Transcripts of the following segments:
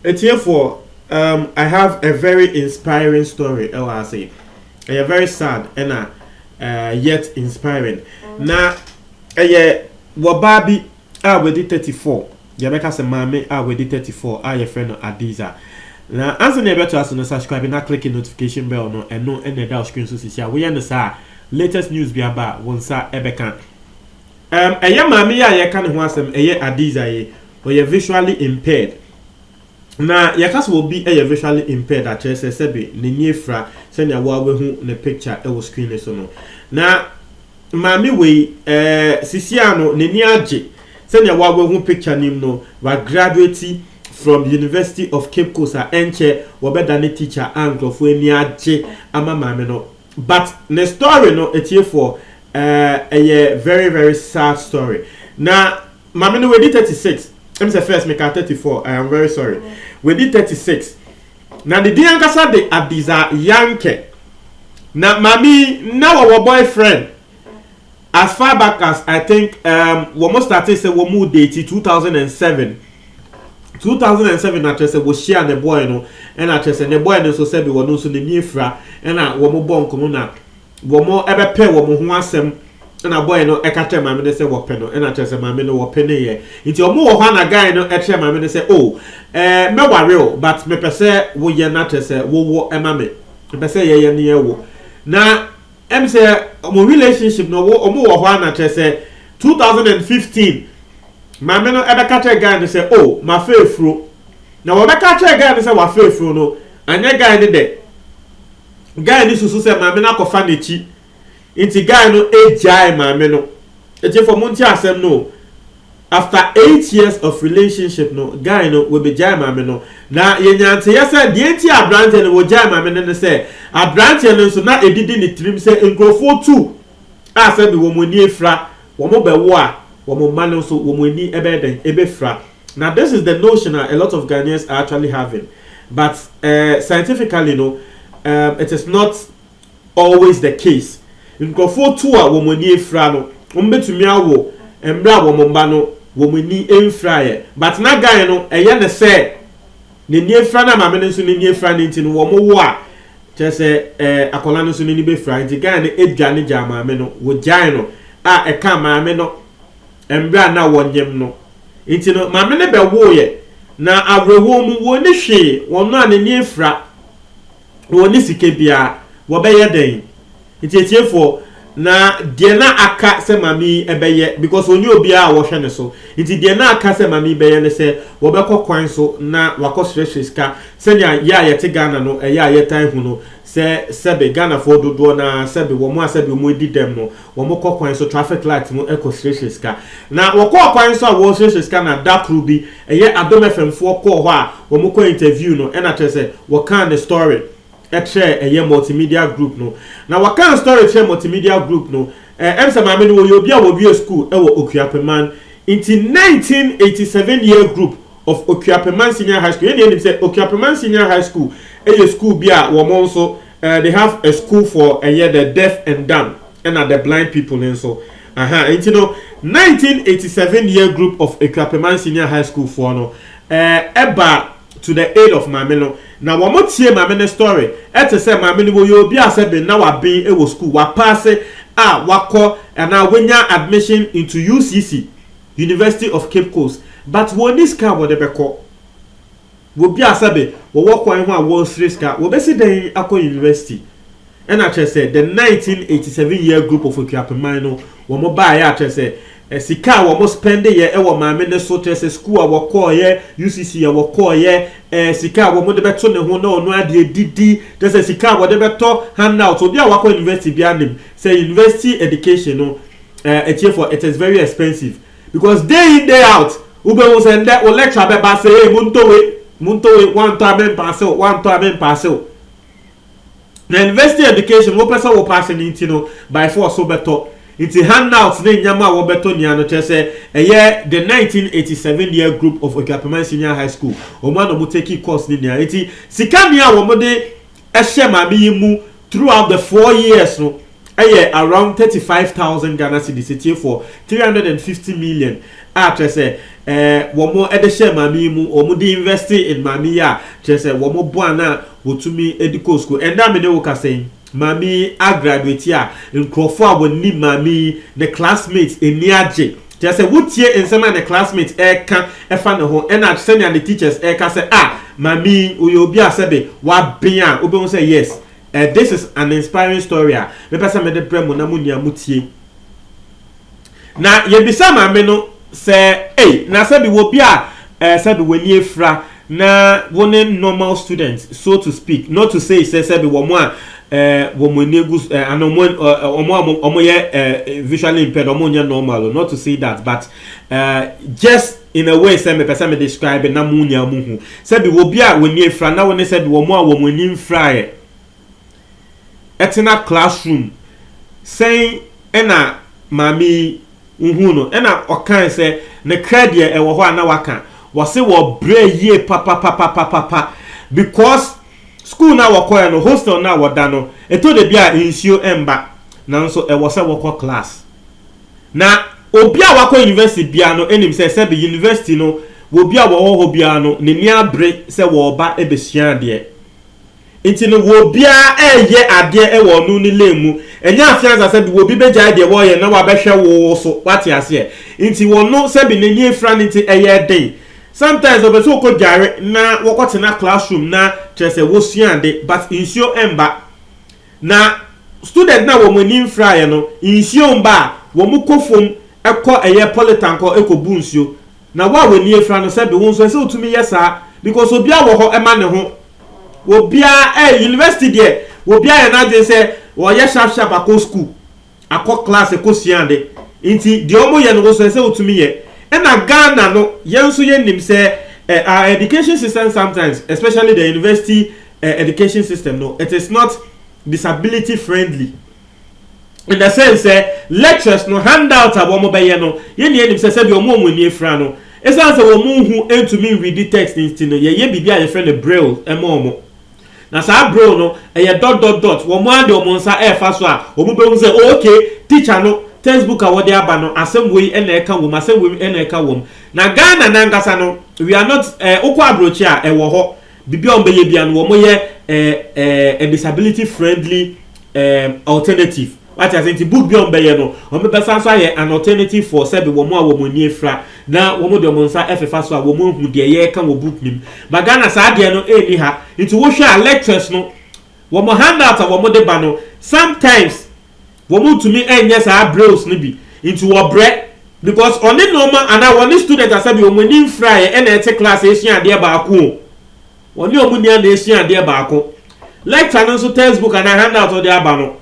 Atiefoɔ, um, I have a very inspiring story ɛwɔ ha sei. Ɛyɛ very sad ɛna uh, yet inspiring. Na ɛyɛ wɔbaa bi A wadi 34, deɛ bɛka sɛ maame a wadi 34 a yɛfrɛ no Adiza. Na ansa na yɛbɛtoa so no, subscribe na click notification bell no, ɛno na ɛda wo screen so sisi a, woyɛ no saa a, latest news bi aba a, wo nsa bɛka. Ɛm, ɛyɛ maame yi a yɛreka ne ho asɛm, ɛyɛ Adiza yi, ɔyɛ visually impaired. Na yɛka sɛ obi yɛ visually impaired a, kyerɛ sɛ sɛbe n'ani afira sɛnea wo ara woahu ne picture wɔ screen no so no. Na maame wei, eh, sisiaa no n'ani agye sɛnea wo ara woahu picture no mu no, wagraduate from University of Cape Coast a ɛnkyɛ wɔbɛda ne teacher a nkurɔfoɔ ani agye ama maame no. But ne story no, atiefoɔ, eh, ɛyɛ very very sad story. Na Maame no wadi thirty six ɛm sɛ first mekaa thirty four I am very sorry wadi thirty six na ne din ankasa de Adiza Yankɛ na maame yi na wɔwɔ boy friend as far back as I think um, wɔn startee sɛ wɔn mu date two thousand and seven two thousand and seven na kyerɛ sɛ wɔhyia ne boy no ɛna kyerɛ sɛ ne boy no nso sɛbi wɔn nso n'ani afira ɛna wɔn bɔ nkɔmɔ na Wɔbɛpɛɛ wɔn ho asɛm na boy no ka kyerɛɛ maame no sɛ wɔpɛ no na kyerɛ sɛ maame no wɔpeneeɛ nti wɔn wɔ hɔ a na guy no kyerɛɛ maame no sɛ oh eh mɛware o but mepɛ sɛ woyɛ na kyerɛ sɛ wowɔ ma me mepɛ sɛ yɛyɛ ne yɛwo na ɛm sɛ wɔn relationship no wɔn wɔ hɔ a na kyerɛ sɛ 2015 maame no ɛbɛka kyerɛ guy no sɛ oh mafa afuro na wɔbɛka kyerɛ guy no sɛ wafa afuro no anyɛ guy no dɛ guy no susu sɛ maame no akɔfa n'akyi nti guy no agyae maame no atiefo mo nti asɛm no o after eight years of relationship no guy no wabegyae maame no na yɛnya nteyɛ sɛ deɛ nti abranteɛ no wɔgyae maame no ne sɛ abranteɛ no nso na edidi ne tirim sɛ nkurɔfoɔ tu a sɛ bi wɔn ani afira wɔn bɛwo a wɔn mma no nso wɔn ani ɛbɛyɛ dɛn ɛbɛfira Na this is the notion a a lot of Ghanaians are actually having but eh scientifically no eh it is not always the case. Nkurɔfoɔ tu a wɔn ani afira no, wɔbɛtumi awo mmerɛ a wɔn mma no wɔn ani mfiraeɛ but na guy no ɛyɛ no sɛ n'ani afira na maame no nso n'ani afira no nti no wɔn wo a kyerɛ sɛ eh akwadaa no nso n'ani bɛfira nti guy no dwane gyaa maame no, wɔgyae no a ɛka maame no mbrɛ a nna wɔnyem no. Ntsi no, Maame no bɛwooɛ, na awerɛhoɔ mu, wonni hwee, wɔn a n'ani afira, wɔnni sika biara, wɔbɛyɛ dɛn? Nti atiefoɔ, na deɛ na aka sɛ maame yi bɛyɛ, because ɔnni obiara a wɔhwɛ ne so, nti deɛ na aka sɛ maame yi bɛyɛ ne sɛ, wɔbɛkɔ kwan so na wakɔsrɛsrɛ sika, sɛnea yɛ a yɛte Ghana no, ɛyɛ a yɛtae hu no, sɛ sɛbe Ghanafoɔ dodoɔ no ara, sɛbe wɔn a sɛbe wɔadi dɛm no, Wɔkɔ kwan so, traffic light mu kɔsrɛsrɛ sika. Na wɔkɔɔ kwan so a wɔresrɛsrɛ sika na da koro bi, ɛyɛ Adom FM foɔ kɔɔ hɔ a wɔkɔ interview no ɛna kyerɛ sɛ wɔkaa ne story kyerɛɛ ɛyɛ Multimedia Group no. Na wɔkaa story kyerɛɛ Multimedia Group no, ɛm sɛ maame no wɔyɛ obi a wɔwie school wɔ Okuapeman, nti 1987 year group of Okuapeman Senior High School, yɛn nyinaa nim sɛ Okuapeman Senior High School yɛ school bi a wɔn nso Eh they have a school for ɛyɛ the deaf and dumb ɛna the blind people no nso ahaa nti no nineteen eighty seven year group of Akuapeman senior high school foɔ no eh ɛbaa to the aid of maame no na wɔn tie maame no story ɛte sɛ maame no wɔyɛ obi a sɛ ben na waben ɛwɔ school wapaase a wakɔ anaa wanya admission into UCC University of Cape Coast but wɔn nni sika a wɔde bɛkɔ. Wɔbi a sɛbe wɔwɔ kwan ho a wɔresrɛ sika, wɔbɛsi dɛn akɔ university? Ɛna kyerɛ sɛ the nineteen eighty seven year group of Akuapeman no wɔn baeɛ a kyerɛ sɛ sika a wɔn spɛndeɛ wɔ maame no so kyerɛ sɛ school a wɔkɔɔeɛ, UCC a wɔkɔɔeɛ, eh, sika a wɔn de bɛto ne ho na ɔno adeɛ didi kyerɛ sɛ sika a wɔde bɛtɔ handout. Obi a wakɔ university biara nim sɛ university education no eh, atiefo it is very expensive. Because day in day out wobɛhu sɛ ndɛ wo lecture bɛba sɛ ei montɔ wei montɔ wei woantɔ a mempaase wo woantɔ a mempaase wo na university education wopɛ sɛ wo paase no nti no by force wobɛtɔ nti handouts ne nneɛma a wɔbɛtɔ nia no kyerɛ sɛ ɛyɛ the 1987 year group of Otuapeman Senior High School wɔn a na wɔn take course ne nia nti sika nia wɔn de hyɛ maame yi mu throughout the four years no yɛ around thirty five thousand Ghana cedis, atiefoɔ three hundred and fifty million a kyerɛ sɛ eh, wɔn de hyɛɛ maame yi mu, wɔn de invest in maame yi a kyerɛ sɛ wɔn boa no a wɔtumi de kɔɔ sukuu. Ɛnna me ne wo kasa yi, maame yi agraduate a nkurɔfoɔ a wɔnim maame yi, ne classmates ani agye. Kyerɛ sɛ wotie nsɛm a ne classmates reka fa ne ho na sɛnea ne teachers reka sɛ ah Mame yi oyɛ obi a sɛbe waben a wobɛhu sɛ yes eh this is an inspiring story a mepɛ sɛ mede brɛ mo na mo nua mo tie. Na yɛbisaa Mame no sɛ ei na sɛbe wɔ bi a eh sɛbe w'ani afira na wo ne normal student so to speak not to say sɛ sɛbi wɔn a eh, wɔn ani egu so eh, ana wɔn eh, eh, wɔn a wɔn wɔn yɛ eh, visually impaired wɔn nyɛ normal o, not to say that but eh, just in a way sɛ mepɛ sɛ me describe na mo nyinaa mo hu sɛbi wɔ bi a wɔn ani afira na wɔn ne sɛbi wɔn a wɔn ani nfiraeɛ. ɛtena class room sɛn ɛna maame yi wohuu no ɛna ɔkae sɛ ne kra deɛ ɛwɔ hɔ a na waka wɔse wɔ brɛ yie papapapapapa because school na wɔkɔɛ no hostel na wɔda no ɛtɔ da bi a nsuo ɛmba nanso ɛwɔ sɛ wɔkɔ class na obi a wakɔ university bia no ɛnim sɛ sɛbe university no wɔ bi a wɔwɔ hɔ bia no n'ani abere sɛ wɔba ɛbɛsua adeɛ Ntsi no wobiara reyɛ adeɛ wɔ ɔno ne lane mu. Nnyɛ afe ansa sɛ bi obi bɛgyae deɛ wɔreyɛ na wabɛhwɛ wo wo so, wate aseɛ? Ntsi ɔno sɛ bi n'ani afira no ntsi ɛyɛ den. Sometimes ɔpɛ sɛ ɔkɔ dware na wɔkɔ tena class room na kyerɛ sɛ wɔsua ade but nsuo mba. Na student no a wɔn ani mfiraeɛ no, nsuo mba a, wɔn kɔ fam kɔ ɛyɛ polytank hɔ kɔ bu nsuo. Na wo a w'ani afira no sɛbe wo nso ɛsɛ wotumi yɛ saa because obiara wɔ hɔ ɛma ne ho obiara ɛɛ university deɛ obiara yɛ n'adwene sɛ ɔyɛ sharp sharp akɔ school akɔ class ɛkɔ sua ade nti deɛ ɔmo yɛ no wo nso ɛsɛ wotumi yɛ ɛna Ghana no yɛn nso yɛ nim sɛ ɛɛ our education system sometimes especially the university ɛɛ education system no it is not disability friendly. na sɛn sɛ lectures no handout a wɔn bɛyɛ no yɛ nea yɛnim sɛ sɛdeɛ wɔn a wɔn ani afira no ɛsiane sɛ wɔn nhu ntumi nredi text nti no yɛyɛ biribi a yɛfrɛ no braille ma wɔn na saa braille no ɛyɛ dot dot dot wɔn ara de wɔn nsa ɛrefa so a wɔn bɛhu sɛ oh ok teacher no textbook a wɔde aba no asɛm wei ɛna ɛka wɔm asɛm wei ɛna ɛka wɔm na Ghana nankasa no we are not ɛɛ eh, wokɔ aburokyi a ɛwɔ hɔ Biribiara a wɔbɛyɛ biara no, wɔyɛ ɛɛ ɛɛ disability friendly ɛɛ alternative. Wate ase nti book biara a wɔbɛyɛ no, wɔbɛsan nso ayɛ an alternative for sɛbi wɔn a wɔn ani afira na wɔn de wɔn nsa ɛfefa so a wɔn ahu deɛ yɛreka wɔ book no mu. Ba Ghana saa adeɛ no ɛnni ha. Nti wohwɛ a lectures no, wɔn handout a wɔn de ba no, sometimes Wɔntumi nyɛ saa brails no bi nti wɔbrɛ because ɔne nnoɔma anaa wɔne student asa bi wɔn ani mfraeɛ ɛna ɛte class ɛresua adeɛ baako o, wɔne wɔn nua na ɛresua adeɛ baako. Lecture no nso textbook anaa handout a ɔde aba no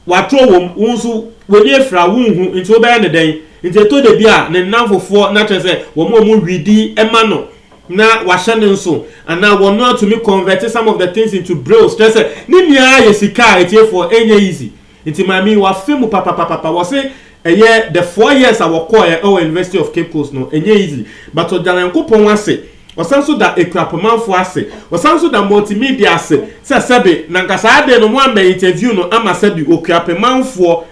watwerɛ wɔ mu, wo nso w'ani afira wonhu nti wobɛyɛ no dɛn? Nti ɛtɔ dabi a ne nnamfofoɔ no akyerɛ sɛ wɔn a wɔn readi ma no. na wahyɛ no nso anaa wɔno atumi convert some of the things into brails kyerɛ sɛ ne nyinaa yɛ sika a ɛtiefoɔ ɛnyɛ easy nti maame yi wafe mu papapapapa wɔse ɛyɛ the four years a wɔkɔɔɛ ɛwɔ University of Cape Coast no ɛnyɛ easy but ɔda Nyankopɔn ase ɔsan nso da Akuapɔmanfoɔ ase ɔsan nso da multimedia ase sɛ sɛbe na nka saa ade no moammɛ interview no ama sɛbe Okuapemanfoɔ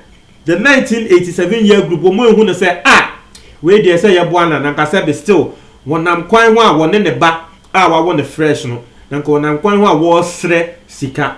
The nineteen eighty seven year group wɔn ehu no sɛ a wei deɛ sɛ yɛboa no a na nka sɛ be still wɔnam kwan ho a wɔne ne ba a wawo no fresh no na nka wɔnam kwan ho a wɔresrɛ sika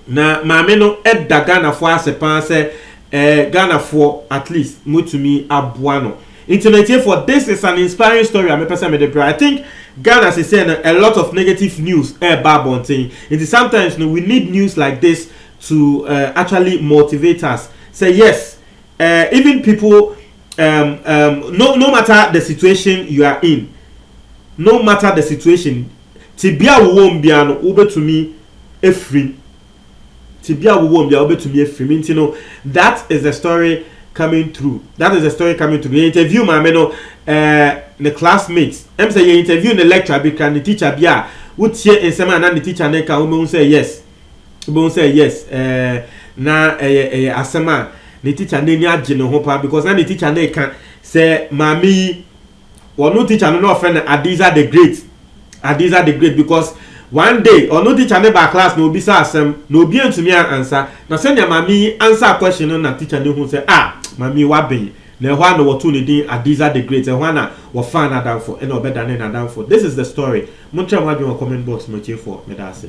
na maame no da Ghanafoɔ ase paa sɛ eh, Ghanafoɔ at least motumi aboa no nti na ntiefoɔ this is an inspiring story a mepɛ sɛ mede bra I think Ghana sesɛ no a lot of negative news ɛreba abɔnten nti sometimes no we need news like this to uh, actually motivate us say yes uh, even people um, um, no, no matter the situation you are in no matter the situation tibia wowɔ mu bia no wobɛtumi afiri tibia wowɔ mu bia wobɛtumi afiri nti no that is the story coming through that is the story coming through yɛ interview maame no uh, ne classmate ɛm sɛ yɛ interview ne lecture bi kra ne teacher bi a wotie nsɛm a na ne teacher ne ka wobɛhu sɛ yes wobɛhu sɛ yes ɛɛ na ɛyɛ ɛyɛ asɛm a ne tikya no ani agye ne ho paa because na ne tikya no reka sɛ maame yi ɔno tikya no na ɔfrɛ no Adiza the great Adiza the great because one day ɔno tikya no baa class na obisa asɛm na obi antumi ansa na sɛnea maame yi ansa question no na tikya no hu sɛ ah maame yi waben na ɛhɔ a na wɔtoo ne din Adiza the great ɛhɔ a na wɔfaa n'adamfo ɛna ɔbɛdane n'adamfo this is the story monkyerɛ mo adwene wɔ comment box mu atiefoɔ meda ase.